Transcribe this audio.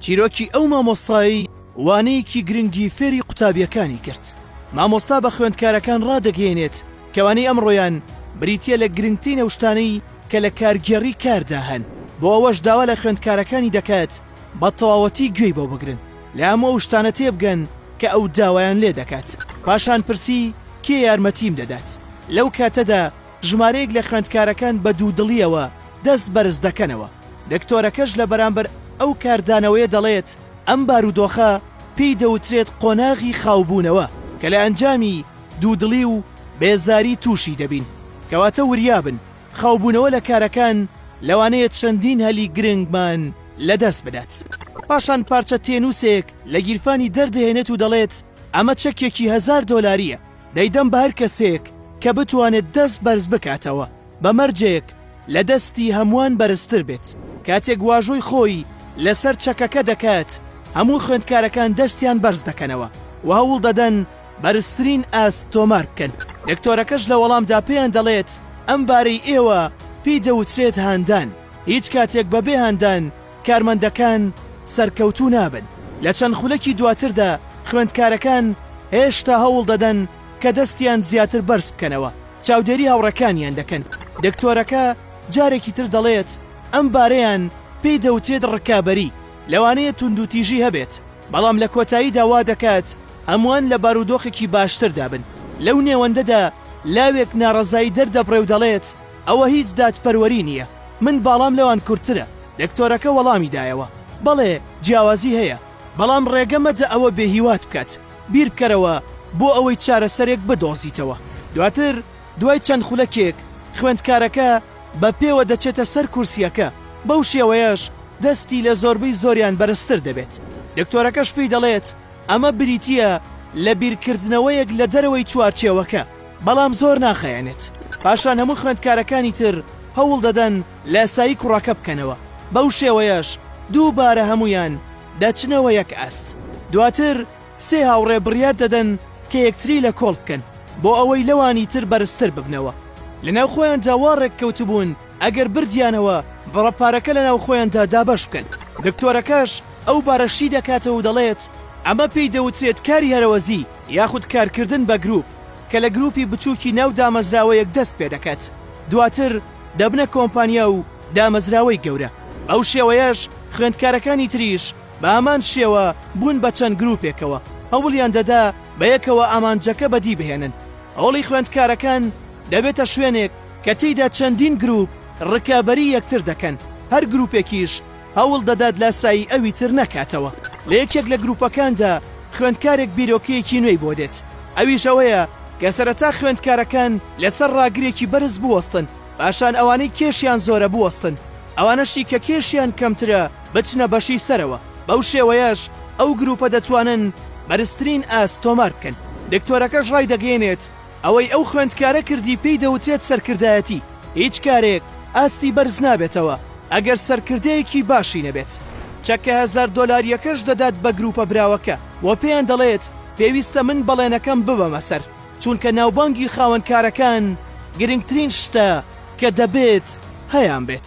چیرۆکی ئەو مامۆستایەی وانەیەکی گرنگی فێری قوتابیەکانی کرد مامۆستا بە خوێندکارەکان ڕادەگەێنێت کەوانی ئەمڕۆیان بریتە لە گرنگترین ئەوشتانەی کە لە کارگێڕی کاردا هەن بۆ ئەوەش داوا لە خوێندکارەکانی دەکات بە تەواوەتی گوێی بۆ بگرن لە هەموو ئەو شتانە تێبگەن کە ئەو داوایان لێ دەکات پاشان پرسی کێ یارمەتیم دەدات لەو کاتەدا ژمارەیەک لە خوێندکارەکان بە دوودڵییەوە دەست بەرز دەکەنەوە، رێکتۆرەکەش لە بەرامبەر ئەو کاردانەوەیە دەڵێت، ئەم بارودۆخە پێی دەوترێت قۆناغی خاوبوونەوە کە لە ئەنجامی دوودڵی و بێزاری تووشی دەبین، کەواتە وریابن، خاوبوونەوە لە کارەکان لەوانەیە چەندین هەلی گرنگمان لەدەست بدات. پاشان پارچە تێنووسێک لە گیرفانی دەردەهێنێت و دەڵێت، ئەمە چەکێکی هەزار دۆلارییە. دەیدەم بە هەر کەسێک کە بتوانێت دەست بەرز بکاتەوە بە مەرجێک لە دەستی هەمووان بەرزتر بێت. کاتێک واژۆی خۆی لەسەر چەکەکە دەکات، هەموو خوێندکارەکان دەستیان بەرز دەکەنەوە و هەوڵ دەدەن بەرزترین ئاست تۆمار بکەن. دکتۆرەکەش لە وەڵامدا پێیان دەڵێت، ئەم بارەی ئێوە پێی دەوترێت هاندان، هیچ کاتێک بەبێ هاندان کارمەندەکان سەرکەوتوو نابن. لە چەند خولەکی دواتردا خوێندکارەکان هێشتا هەوڵ دەدەن کە دەستیان زیاتر بەرز بکەنەوە، چاودێری هاوڕێکانیان دەکەن. دکتۆرەکە جارێکی تر دەڵێت، ئەم بارەیان پێی دەوترێت ڕکابەری، لەوانەیە توندوتیژی هەبێت، بەڵام لە کۆتاییدا وا دەکات هەمووان لە بارودۆخێکی باشتردا بن. لەو نێوەندەدا لاوێک ناڕەزایی دەردەبڕێ و دەڵێت، ئەوە هیچ دادپەروەری نییە. من باڵام لەوان کورتترە. دکتۆرەکە وەڵامی دایەوە. بەڵێ، جیاوازی هەیە. بەڵام ڕێگە مەدە ئەوە بێهیوات بکات. بیربکەرەوە بۆ ئەوەی چارەسەرێک بدۆزیتەوە. دواتر دوای چەند خولەکێک، خوێندکارەکە بە پێوە دەچێتە سەر کورسییەکە، بەو شێوەیەش دەستی لە زۆربەی زۆریان بەرزتر دەبێت. دکتۆرەکەش پێی دەڵێت ئەمە بریتییە لە بیرکردنەوەیەک لە دەرەوەی چوارچێوەکە. بەڵام زۆر ناخایەنێت، پاشان هەموو خوێندکارەکانی تر هەوڵ دەدەن لاسایی کوڕەکە بکەنەوە، بەو شێوەیەش دووبارە هەموویان دەچنەوە یەک ئاست، دواتر سێ هاوڕێ بڕیار دەدەن کە یەکتری لە کۆڵ بکەن بۆ ئەوەی لەوانی تر بەرزتر ببنەوە، لە ناو خۆیاندا وا ڕێک کەوتبوون ئەگەر بردیانەوە بڕە پارەکە لە ناو خۆیاندا دابەش بکەن، دکتۆرەکەش ئەو بارە شی دەکاتەوە و دەڵێت ئەمە پێی دەوترێت کاری هەرەوەزی. یاخود کارکردن بە گروپ کە لە گروپی بچووکی ناو دامەزراوەیەک دەست پێدەکات دواتر دەبنە کۆمپانیا و دامەزراوەی گەورە بەو شێوەیەش خوێندکارەکانی تریش بە هەمان شێوە بوون بە چەند گروپێکەوە هەوڵیان دەدا بەیەکەوە ئامانجەکە بەدی بهێنن هۆڵی خوێندکارەکان دەبێتە شوێنێک کە تێیدا چەندین گروپ ڕکابەری یەکتر دەکەن هەر گروپێکیش هەوڵ دەدات لاسایی ئەوی تر نەکاتەوە. لە یەکێک لە گرووپەکاندا خوێندکارێک بیرۆکەیەکی نوێی بۆ دێت، ئەویش ئەوەیە کە سەرەتا خوێندکارەکان لەسەر ڕاگرێکی بەرز بوەستن، پاشان ئەوانەی کێشیان زۆرە بوەستن، ئەوانەشی کە کێشیان کەمترە بچنە بەشی سەرەوە، بەو شێوەیەش ئەو گرووپە دەتوانن بەرزترین ئاست تۆمار بکەن. دکتۆرەکەش ڕایدەگەیەنێت، ئەوەی ئەو خوێندکارە کردی پێی دەوترێت سەرکردایەتی، هیچ کارێک ئاستی بەرز نابێتەوە ئەگەر سەرکردەیەکی باشی نەبێت. چەکە هەزار دۆلارییەکەش دەدات بە گرووپە براوەکە و پێیان دەڵێت پێویستە من بەڵێنەکەم ببەمە سەر، چونکە ناوبانگی خاوەن کارەکان گرنگترین شتە کە دەبێت هەیانبێت.